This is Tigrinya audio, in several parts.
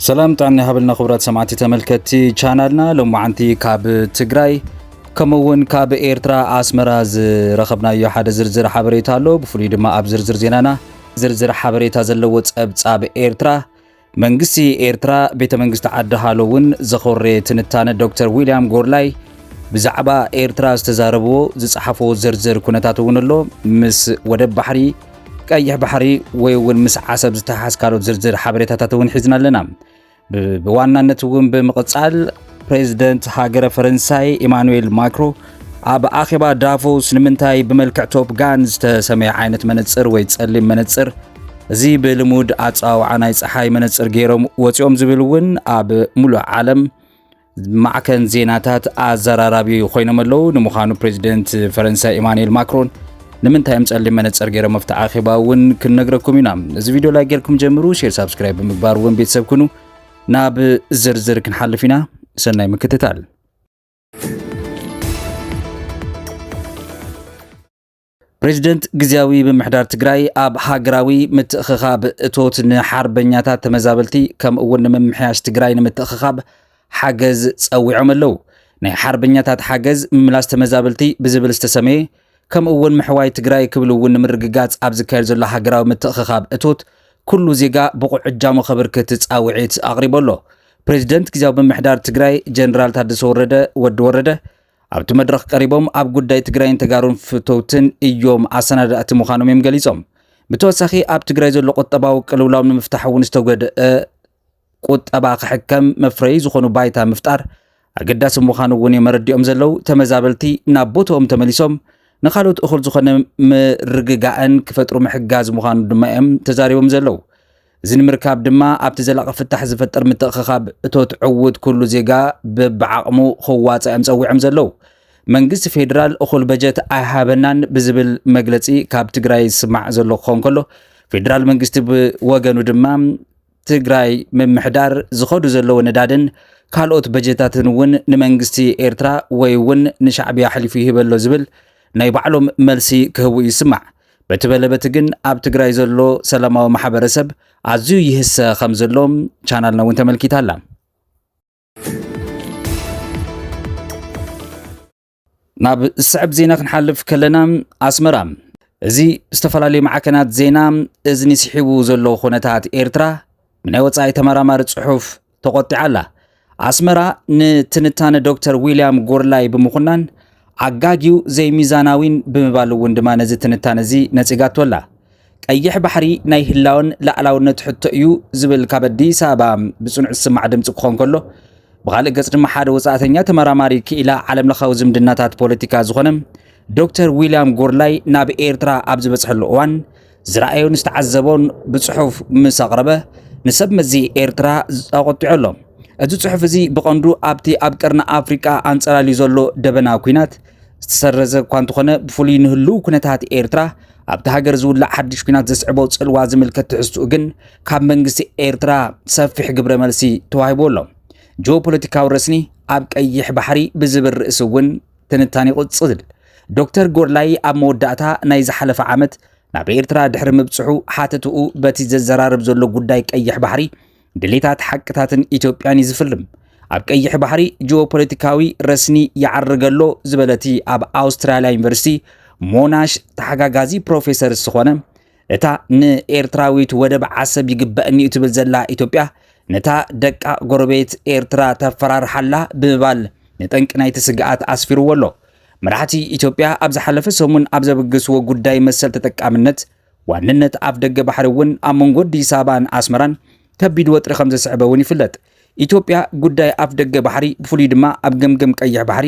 ሰላም ጣዕና ይሃበልና ክቡራት ሰማዕቲ ተመልከትቲ ቻናልና ሎማዓንቲ ካብ ትግራይ ከምኡ እውን ካብ ኤርትራ ኣስመራ ዝረኸብናዮ ሓደ ዝርዝር ሓበሬታ ኣሎ ብፍሉይ ድማ ኣብ ዝርዝር ዜናና ዝርዝር ሓበሬታ ዘለዎ ጸብጻብ ኤርትራ መንግስቲ ኤርትራ ቤተ መንግስቲ ዓዲ ሃሎ እውን ዘኾሬ ትንታነ ዶክተር ዊልያም ጎርላይ ብዛዕባ ኤርትራ ዝተዛረብዎ ዝጸሓፎ ዝርዝር ኩነታት እውን ኣሎ ምስ ወደብ ባሕሪ ቀይሕ ባሕሪ ወይ እውን ምስ ዓሰብ ዝተሓሓዝ ካልኦት ዝርዝር ሓበሬታታት እውን ሒዝና ኣለና ብዋናነት እውን ብምቕጻል ፕሬዝደንት ሃገረ ፈረንሳይ ኢማኑኤል ማክሮ ኣብ ኣኼባ ዳቮስ ንምንታይ ብመልክዕ ቶፕ ጋን ዝተሰመየ ዓይነት መነጽር ወይ ጸሊም መነጽር እዚ ብልሙድ ኣጸዋውዓ ናይ ፀሓይ መነጽር ገይሮም ወፂኦም ዝብል እውን ኣብ ሙሉእ ዓለም ማዕከን ዜናታት ኣዘራራቢ ኮይኖም ኣለዉ። ንምዃኑ ፕሬዚደንት ፈረንሳይ ኢማኑኤል ማክሮን ንምንታይ እዮም ጸሊም መነጽር ገይሮም ኣብቲ ኣኼባ እውን ክንነግረኩም ኢና። እዚ ቪድዮ ላይ ጌርኩም ጀምሩ፣ ሼር ሳብስክራይብ ብምግባር እውን ቤተሰብ ኩኑ። ናብ ዝርዝር ክንሓልፍ ኢና። ሰናይ ምክትታል። ፕሬዚደንት ግዜያዊ ምምሕዳር ትግራይ ኣብ ሃገራዊ ምትእኽኻብ እቶት ንሓርበኛታት ተመዛበልቲ ከምኡ እውን ንምምሕያሽ ትግራይ ንምትእኽኻብ ሓገዝ ጸዊዖም ኣለዉ። ናይ ሓርበኛታት ሓገዝ ምምላስ ተመዛበልቲ ብዝብል ዝተሰመየ ከምኡ እውን ምሕዋይ ትግራይ ክብል እውን ንምርግጋፅ ኣብ ዝካየድ ዘሎ ሃገራዊ ምትእኽኻብ እቶት ኩሉ ዜጋ ብቑዕ እጃሙ ከበርክት ፃውዒት ኣቕሪቡ ኣሎ። ፕሬዚደንት ጊዜያዊ ምምሕዳር ትግራይ ጀነራል ታደሰ ወረደ፣ ወዲ ወረደ፣ ኣብቲ መድረኽ ቀሪቦም ኣብ ጉዳይ ትግራይን ተጋሩን ፍተውትን እዮም ኣሰናዳእቲ ምዃኖም እዮም ገሊፆም። ብተወሳኺ ኣብ ትግራይ ዘሎ ቁጠባዊ ቅልውላው ንምፍታሕ እውን ዝተገድአ ቁጠባ ክሕከም መፍረዪ ዝኾኑ ባይታ ምፍጣር ኣገዳሲ ምዃኑ እውን እዮም መረዲኦም ዘለዉ ተመዛበልቲ ናብ ቦትኦም ተመሊሶም ንካልኦት እኹል ዝኾነ ምርግጋእን ክፈጥሩ ምሕጋዝ ምዃኑ ድማ እዮም ተዛሪቦም ዘለዉ እዚ ንምርካብ ድማ ኣብቲ ዘላቒ ፍታሕ ዝፈጥር ምትእኽኻብ እቶት ዕውት ኩሉ ዜጋ ብብዓቕሙ ክዋፃእ እዮም ፀዊዖም ዘለዉ መንግስቲ ፌዴራል እኹል በጀት ኣይሃበናን ብዝብል መግለፂ ካብ ትግራይ ዝስማዕ ዘሎ ክኸውን ከሎ ፌዴራል መንግስቲ ብወገኑ ድማ ትግራይ ምምሕዳር ዝኸዱ ዘለዎ ነዳድን ካልኦት በጀታትን እውን ንመንግስቲ ኤርትራ ወይ እውን ንሻዕብያ ኣሕሊፉ ይህበሎ ዝብል ናይ ባዕሎም መልሲ ክህቡ ይስማዕ። በቲ በለበቲ ግን ኣብ ትግራይ ዘሎ ሰላማዊ ማሕበረሰብ ኣዝዩ ይህሰ ከም ዘሎ ቻናልና እውን ተመልኪታ ኣላ። ናብ ዝስዕብ ዜና ክንሓልፍ ከለና ኣስመራ እዚ ዝተፈላለዩ ማዕከናት ዜና እዝኒ ስሒቡ ዘሎ ኩነታት ኤርትራ ብናይ ወፃኢ ተመራማሪ ጽሑፍ ተቖጢዓ ኣላ። ኣስመራ ንትንታነ ዶክተር ዊልያም ጎርላይ ብምኹናን ኣጋጊው ዘይሚዛናዊን ብምባል እውን ድማ ነዚ ትንታነ እዚ ነጺጋቶ ኣላ። ቀይሕ ባሕሪ ናይ ህላወን ላዕላውነት ሕቶ እዩ ዝብል ካብ ኣዲስ ኣበባ ብጽኑዕ ዝስማዕ ድምፂ ክኾን ከሎ ብኻልእ ገጽ ድማ ሓደ ወፃእተኛ ተመራማሪ ክኢላ ዓለም ለኻዊ ዝምድናታት ፖለቲካ ዝኾነ ዶክተር ዊልያም ጎርላይ ናብ ኤርትራ ኣብ ዝበፅሐሉ እዋን ዝረኣዮን ዝተዓዘቦን ብፅሑፍ ምስ ኣቕረበ ንሰብ መዚ ኤርትራ ኣቖጢዑ ኣሎ እዚ ፅሑፍ እዚ ብቐንዱ ኣብቲ ኣብ ቀርኒ ኣፍሪቃ ኣንፀላልዩ ዘሎ ደበና ኩናት ዝተሰረዘ እኳ እንተኾነ ብፍሉይ ንህልው ኩነታት ኤርትራ ኣብቲ ሃገር ዝውላዕ ሓድሽ ኩናት ዘስዕቦ ጽልዋ ዝምልከት ትሕዝትኡ ግን ካብ መንግስቲ ኤርትራ ሰፊሕ ግብረ መልሲ ተዋሂቦ ኣሎ። ጂኦፖለቲካዊ ረስኒ ኣብ ቀይሕ ባሕሪ ብዝብል ርእሲ እውን ትንታኔ ይቕጽል። ዶክተር ጎድላይ ኣብ መወዳእታ ናይ ዝሓለፈ ዓመት ናብ ኤርትራ ድሕሪ ምብጽሑ ሓተትኡ በቲ ዘዘራርብ ዘሎ ጉዳይ ቀይሕ ባሕሪ ድሌታት ሓቅታትን ኢትዮጵያን እዩ ዝፍልም። ኣብ ቀይሕ ባሕሪ ጂኦፖለቲካዊ ረስኒ ይዓርግ ኣሎ ዝበለቲ ኣብ ኣውስትራልያ ዩኒቨርሲቲ ሞናሽ ተሓጋጋዚ ፕሮፌሰር ዝኾነ እታ ንኤርትራዊት ወደብ ዓሰብ ይግበእኒ እዩ ትብል ዘላ ኢትዮጵያ ነታ ደቃ ጎረቤት ኤርትራ ተፈራርሓላ ብምባል ንጠንቂ ናይቲ ስግኣት ኣስፊርዎ ኣሎ። መራሕቲ ኢትዮጵያ ኣብ ዝሓለፈ ሰሙን ኣብ ዘበገስዎ ጉዳይ መሰል ተጠቃምነት ዋንነት ኣፍደገ ባሕሪ እውን ኣብ መንጎ ኣዲስ ኣበባን ኣስመራን ከቢድ ወጥሪ ከም ዘስዕበ እውን ይፍለጥ። ኢትዮጵያ ጉዳይ ኣፍደገ ባሕሪ ብፍሉይ ድማ ኣብ ገምገም ቀይሕ ባሕሪ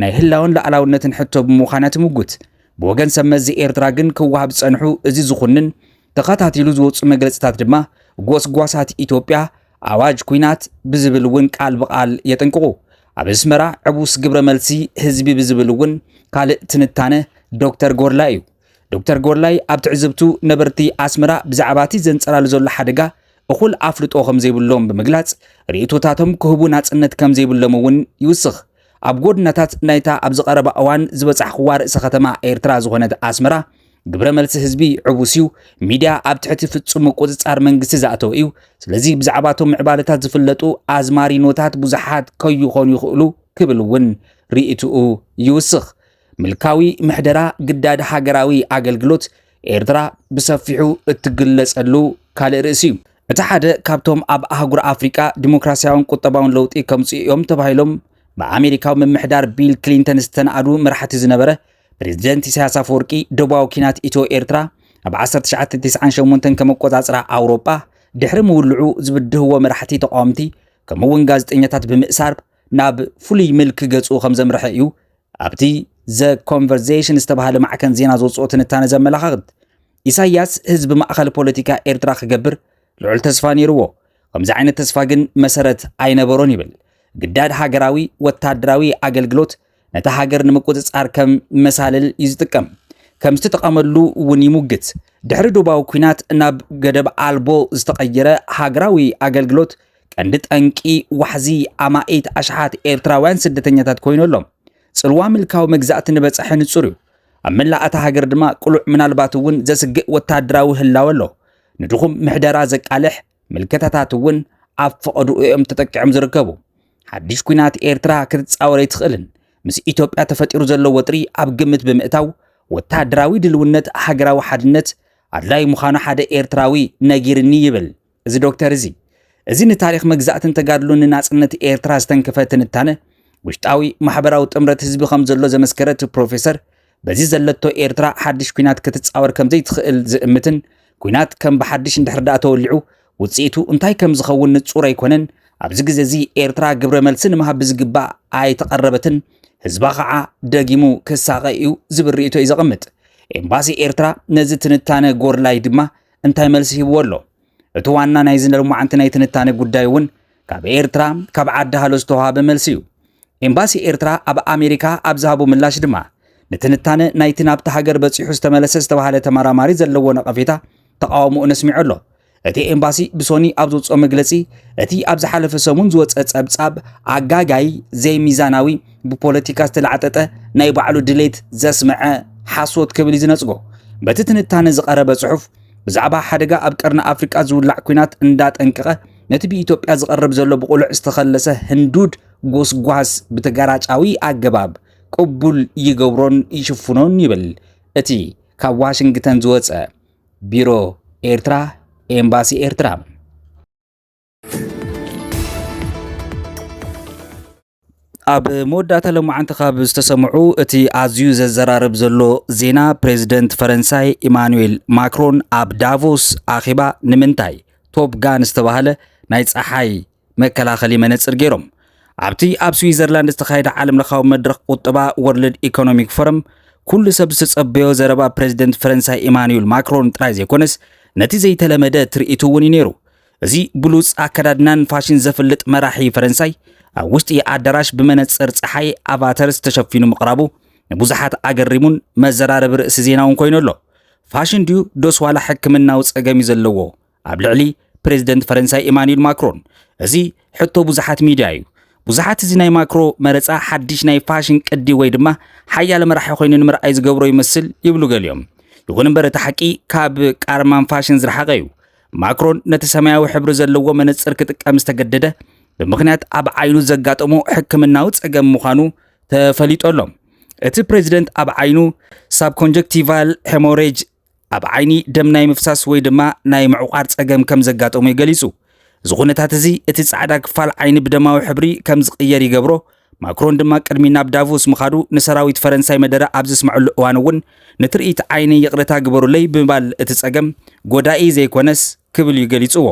ናይ ህላወን ሉኣላውነትን ሕቶ ብምዃን እያ ትምጉት። ብወገን ሰብ መዚ ኤርትራ ግን ክወሃብ ዝጸንሑ እዚ ዝኹንን ተኸታቲሉ ዝወጹ መግለጺታት ድማ ጎስጓሳት ኢትዮጵያ ኣዋጅ ኩናት ብዝብል እውን ቃል ብቓል የጠንቅቑ። ኣብ ኣስመራ ዕቡስ ግብረ መልሲ ህዝቢ ብዝብል እውን ካልእ ትንታነ ዶክተር ጎርላ እዩ። ዶክተር ጎላይ ኣብ ትዕዝብቱ ነበርቲ ኣስመራ ብዛዕባ እቲ ዘንጸላሉ ዘሎ ሓደጋ እኹል ኣፍልጦ ከም ዘይብሎም ብምግላጽ ርእይቶታቶም ክህቡ ናጽነት ከም ዘይብሎም እውን ይውስኽ። ኣብ ጎድናታት ናይታ ኣብዚ ቀረባ እዋን ዝበጻሕኽዋ ርእሰ ከተማ ኤርትራ ዝኾነት ኣስመራ ግብረ መልሲ ህዝቢ ዕቡስ እዩ። ሚድያ ኣብ ትሕቲ ፍጹም ምቁጽጻር መንግስቲ ዝኣተወ እዩ። ስለዚ ብዛዕባ እቶም ምዕባለታት ዝፍለጡ ኣዝማሪኖታት ብዙሓት ከይኾኑ ይኽእሉ ክብል እውን ርእይትኡ ይውስኽ። ምልካዊ ምሕደራ ግዳድ ሃገራዊ ኣገልግሎት ኤርትራ ብሰፊሑ እትግለጸሉ ካልእ ርእሲ እዩ። እቲ ሓደ ካብቶም ኣብ ኣህጉር ኣፍሪቃ ዲሞክራስያውን ቁጠባውን ለውጢ ከምጽኡ እዮም ተባሂሎም ብኣሜሪካዊ ምምሕዳር ቢል ክሊንተን ዝተናእዱ መራሕቲ ዝነበረ ፕሬዚደንት ኢሳያስ ኣፈወርቂ ደቡባዊ ኪናት ኢትዮ ኤርትራ ኣብ 1998 ከም ኣቆጻጽራ ኣውሮጳ ድሕሪ ምውልዑ ዝብድህዎ መራሕቲ ተቃወምቲ ከምኡውን ጋዜጠኛታት ብምእሳር ናብ ፍሉይ ምልኪ ገጹ ከም ዘምርሐ እዩ ኣብቲ ዘ ኮንቨርሴሽን ዝተባሃለ ማዕከን ዜና ዘውጽኦ ትንታነ ዘመላኻኽት። ኢሳያስ ህዝቢ ማእኸል ፖለቲካ ኤርትራ ክገብር ልዑል ተስፋ ነይርዎ። ከምዚ ዓይነት ተስፋ ግን መሰረት ኣይነበሮን ይብል ግዳድ ሃገራዊ ወታደራዊ ኣገልግሎት ነታ ሃገር ንምቁጽጻር ከም መሳልል እዩ ዝጥቀም። ከም ዝተጠቐመሉ እውን ይሙግት። ድሕሪ ዶባዊ ኩናት ናብ ገደብ ኣልቦ ዝተቐየረ ሃገራዊ ኣገልግሎት ቀንዲ ጠንቂ ዋሕዚ ኣማኢት ኣሽሓት ኤርትራውያን ስደተኛታት ኮይኑ ኣሎ። ጽልዋ ምልካዊ መግዛእቲ ንበጻሒ ንጹር እዩ። ኣብ መላእ እታ ሃገር ድማ ቅሉዕ ምናልባት እውን ዘስግእ ወተሃደራዊ ህላወ ኣሎ። ንድኹም ምሕደራ ዘቃልሕ ምልከታታት እውን ኣብ ፈቐድኡ እዮም ተጠቂዖም ዝርከቡ። ሓድሽ ኩናት ኤርትራ ክትጻወር ኣይትኽእልን። ምስ ኢትዮጵያ ተፈጢሩ ዘሎ ወጥሪ ኣብ ግምት ብምእታው ወተሃደራዊ ድልውነት ሃገራዊ ሓድነት ኣድላዩ ምዃኑ ሓደ ኤርትራዊ ነጊርኒ ይብል እዚ ዶክተር እዚ። እዚ ንታሪኽ መግዛእትን ተጋድሎን ንናጽነት ኤርትራ ዝተንከፈ ትንታነ ውሽጣዊ ማሕበራዊ ጥምረት ህዝቢ ከም ዘሎ ዘመስከረት ፕሮፌሰር በዚ ዘለቶ ኤርትራ ሓድሽ ኩናት ክትጻወር ከም ዘይትኽእል ዝእምትን ኩናት ከም ብሓድሽ እንድሕር ደኣ ተወሊዑ ውጽኢቱ እንታይ ከም ዝኸውን ንጹር ኣይኮነን ኣብዚ ግዜ እዚ ኤርትራ ግብረ መልሲ ንምሃብ ብዝግባእ ኣይተቐረበትን ህዝባ ከዓ ደጊሙ ክሳቐ እዩ ዝብል ርእቶ እዩ ዘቐምጥ ኤምባሲ ኤርትራ ነዚ ትንታነ ጎርላይ ድማ እንታይ መልሲ ሂብዎ ኣሎ እቲ ዋና ናይ ዝለማዓንቲ ናይ ትንታነ ጉዳይ እውን ካብ ኤርትራ ካብ ዓዲ ሃሎ ዝተዋሃበ መልሲ እዩ። ኤምባሲ ኤርትራ ኣብ ኣሜሪካ ኣብ ዝሃቦ ምላሽ ድማ ንትንታነ ናይቲ ናብቲ ሃገር በጺሑ ዝተመለሰ ዝተባሃለ ተመራማሪ ዘለዎ ነቐፌታ ተቓውሞኡ ነስሚዑ ኣሎ። እቲ ኤምባሲ ብሶኒ ኣብ ዘውፅኦ መግለፂ እቲ ኣብ ዝሓለፈ ሰሙን ዝወፀ ፀብፃብ ኣጋጋይ ዘይሚዛናዊ ብፖለቲካ ዝተላዕጠጠ ናይ ባዕሉ ድሌት ዘስምዐ ሓሶት ክብል እዩ ዝነፅጎ በቲ ትንታነ ዝቐረበ ፅሑፍ ብዛዕባ ሓደጋ ኣብ ቀርኒ ኣፍሪቃ ዝውላዕ ኩናት እንዳጠንቀቐ ነቲ ብኢትዮጵያ ዝቐርብ ዘሎ ብቑልዕ ዝተኸለሰ ህንዱድ ጎስጓስ ብተጋራጫዊ ኣገባብ ቅቡል ይገብሮን ይሽፍኖን ይብል እቲ ካብ ዋሽንግተን ዝወፀ ቢሮ ኤርትራ ኤምባሲ ኤርትራ ኣብ መወዳእታ ሎማዓንቲ ካብ ዝተሰምዑ እቲ ኣዝዩ ዘዘራርብ ዘሎ ዜና ፕሬዚደንት ፈረንሳይ ኢማኑኤል ማክሮን ኣብ ዳቮስ ኣኼባ ንምንታይ ቶፕ ጋን ዝተባህለ ናይ ፀሓይ መከላኸሊ መነፅር ገይሮም ኣብቲ ኣብ ስዊዘርላንድ ዝተኻየደ ዓለም ለኻዊ መድረኽ ቁጠባ ወርልድ ኢኮኖሚክ ፎረም ኩሉ ሰብ ዝተፀበዮ ዘረባ ፕሬዚደንት ፈረንሳይ ኢማኑኤል ማክሮን ጥራይ ዘይኮነስ ነቲ ዘይተለመደ ትርኢቱ እውን እዩ ነይሩ እዚ ብሉጽ ኣከዳድናን ፋሽን ዘፍልጥ መራሒ ፈረንሳይ ኣብ ውሽጢ ኣዳራሽ ብመነጽር ጸሓይ ኣቫተርስ ተሸፊኑ ምቕራቡ ንብዙሓት ኣገሪሙን መዘራረቢ ርእሲ ዜና እውን ኮይኑ ኣሎ። ፋሽን ድዩ ዶስ ዋላ ሕክምናዊ ጸገም እዩ ዘለዎ ኣብ ልዕሊ ፕሬዚደንት ፈረንሳይ ኢማኑኤል ማክሮን? እዚ ሕቶ ብዙሓት ሚድያ እዩ። ብዙሓት እዚ ናይ ማክሮ መረጻ ሓድሽ ናይ ፋሽን ቅዲ ወይ ድማ ሓያለ መራሒ ኮይኑ ንምርኣይ ዝገብሮ ይመስል ይብሉ ገሊኦም። ይኹን እምበር እቲ ሓቂ ካብ ቃርማን ፋሽን ዝረሓቐ እዩ። ማክሮን ነቲ ሰማያዊ ሕብሪ ዘለዎ መነጽር ክጥቀም ዝተገደደ ብምኽንያት ኣብ ዓይኑ ዘጋጠሞ ሕክምናዊ ጸገም ምዃኑ ተፈሊጦ ኣሎ። እቲ ፕሬዚደንት ኣብ ዓይኑ ሳብኮንጀክቲቫል ሄሞሬጅ ኣብ ዓይኒ ደም ናይ ምፍሳስ ወይ ድማ ናይ ምዕቋር ጸገም ከም ዘጋጠሙ ገሊጹ። እዚ ኩነታት እዚ እቲ ጻዕዳ ክፋል ዓይኒ ብደማዊ ሕብሪ ከም ዝቕየር ይገብሮ፣ ማክሮን ድማ ቅድሚ ናብ ዳቮስ ምኻዱ ንሰራዊት ፈረንሳይ መደረ ኣብ ዘስመዐሉ እዋን እውን ንትርኢት ዓይነይ ይቕረታ ግበሩለይ ብምባል እቲ ጸገም ጎዳኢ ዘይኮነስ ክብል እዩ ገሊጽዎ።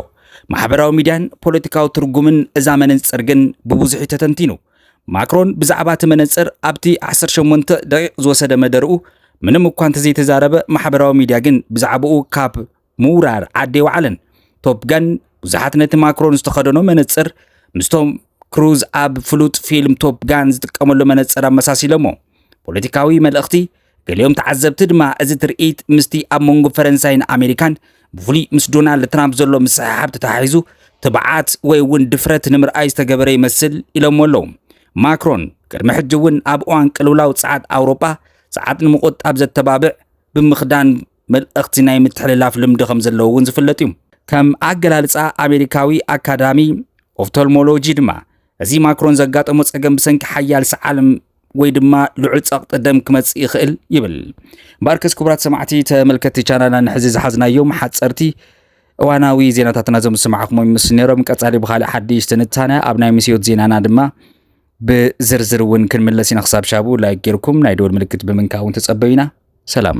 ማሕበራዊ ሚድያን ፖለቲካዊ ትርጉምን እዛ መነጽር ግን ብብዙሕ እዩ ተተንቲኑ። ማክሮን ብዛዕባ እቲ መነጽር ኣብቲ ዓሰርተ ሸሞንተ ደቒቕ ዝወሰደ መደርኡ ምንም እኳ እንተዘይተዛረበ ማሕበራዊ ሚድያ ግን ብዛዕባኡ ካብ ምውራር ዓዲ ኣይወዓለን። ቶፕ ጋን ብዙሓት ነቲ ማክሮን ዝተኸደኖ መነጽር ምስቶም ክሩዝ ኣብ ፍሉጥ ፊልም ቶፕ ጋን ዝጥቀመሉ መነጽር ኣመሳሲሎሞ። ፖለቲካዊ መልእኽቲ ገሊኦም ተዓዘብቲ ድማ እዚ ትርኢት ምስቲ ኣብ መንጎ ፈረንሳይን ኣሜሪካን ብፍሉይ ምስ ዶናልድ ትራምፕ ዘሎ ምስሕሓብ ተተሓሒዙ ትብዓት ወይ እውን ድፍረት ንምርኣይ ዝተገበረ ይመስል ኢሎሞ ኣለዉ። ማክሮን ቅድሚ ሕጂ እውን ኣብ እዋን ቅልውላው ጸዓት ኣውሮጳ ጸዓት ንምቁጣብ ዘተባብዕ ብምኽዳን መልእኽቲ ናይ ምትሕልላፍ ልምዲ ከም ዘለዎ እውን ዝፍለጥ እዩ። ከም ኣገላልጻ ኣሜሪካዊ ኣካዳሚ ኦፍቶልሞሎጂ ድማ እዚ ማክሮን ዘጋጠሞ ጸገም ብሰንኪ ሓያል ሰዓል ወይ ድማ ልዑል ጸቕጢ ደም ክመጽእ ይኽእል ይብል። ባርከስ ክቡራት ሰማዕቲ ተመልከቲ ቻናልና ንሕዚ ዝሓዝናዮም ሓጸርቲ እዋናዊ ዜናታትና ዞም ዝሰማዕኹሞ ምስ ነይሮም ቀጻሊ ብካልእ ሓድሽ ትንታነ ኣብ ናይ ምስዮት ዜናና ድማ ብዝርዝር እውን ክንምለስ ኢና። ክሳብ ሻቡ ላይክ ጌርኩም ናይ ደወል ምልክት ብምንካእ እውን ተጸበዩና። ሰላም።